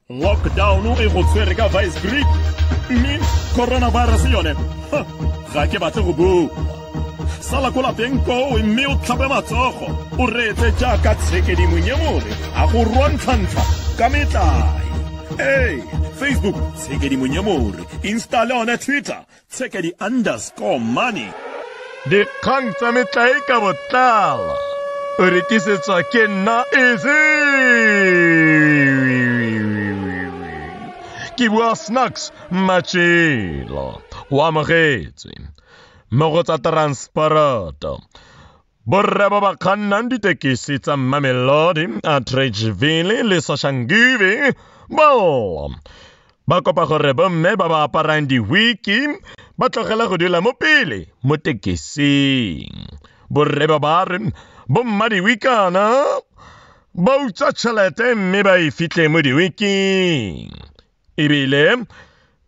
lockdown e go tshwere ka vice grip mme coronavirus yone ga ke batle go bua sala ko lapeng koo mme o tlhape matsogo o reetse jaaka tshekedimong e more a go rontlhantlha ka metlae ee facebook tshekedimong e more instale one twitter Tsekedi underscore money. Dikgang tsa metlae ka botlala. O rekisetswa ke nna easy. Ke bua snacks machelo. O amogetswe. Mo go tsa transporoto. Borre ba ba kgannang ditekesi tsa Mamelodi, Atteridgeville le Soshanguve bao ba kopa gore bomme ba ba aparang diwiki ba tlogela go dula mo pele mo tekesing. Borre ba ba re bomma diwikana ba utswa tšhelete mme ba e fitlhe mo diwiking. ebile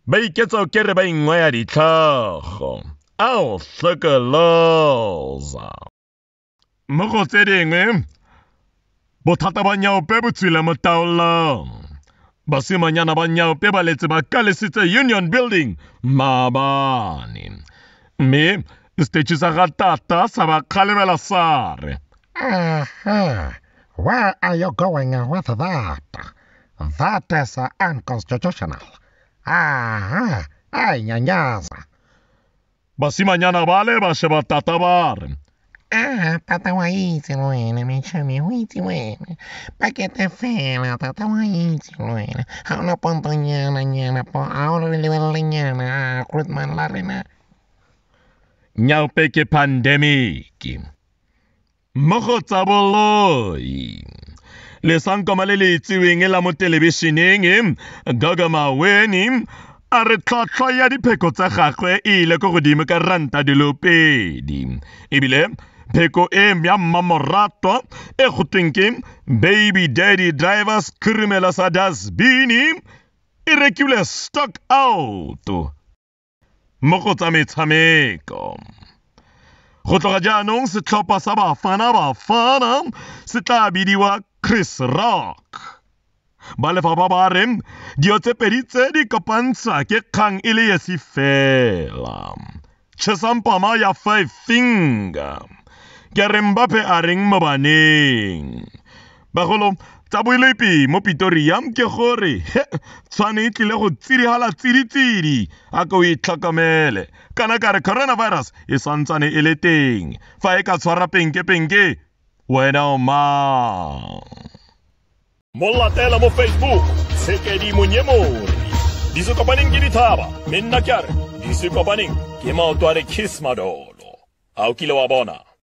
ba iketsa o kere ba ingwaya ditlhogo ao hlokoloza mo go tse dingwe bothata ba nyaope bo tswile mo taolong basimanyana ba nyaope ba letse ba kalesitse union building maabane mme setetšhi sa ga tata sa ba kgalebela sa re Where are you going with that? That is uh, unconstitutional. Aha, a e nyanyaza. Basimanyana ba le ba sheba tata ba re. Ah, tata wa itse le wena, mechami o itse wena. Pakete fela, tata wa itse le wena. Ga o na pontonyana nyana, po a o re lebelele nyana, ah, Grootman la rena. Nyaupe ke pandemic. mo go tsa boloi lesankoma le le itseweng la mo telebišeneng gogo maweni a re tlhotlhwa ya dipheko tsa gagwe e ile ko godimo ka ranta dilo pedi ebile pheko e ya mmamoratwa e go tweng ke baby daddy driver sekhurimela sa dasbini e rekilwe stock out mo go tsa metshameko. Go tloga jaanong setlhopha sa Bafana Bafana se tla bidiwa Chris Rock. Ba lefapha ba re dio tse pedi tse di kopantsha ke kgang e le esi fela. Chesampama ya five finger. Ke reng bape a reng mo baneng. Bagolo, tsa boelepi mo Pitoria ke gore tshwane e tlile go tsidihela tsiditsidi a ko o itlhokomele kana ka re coronavirus e santsane e le teng fa e ka tshwara penkepenke wena o mang mo latela mo facebook sekedi monyemori di se kopaneng ke dithaba mme nna ke a re di se kopaneng ke maoto a re kiss madolo a o kile wa bona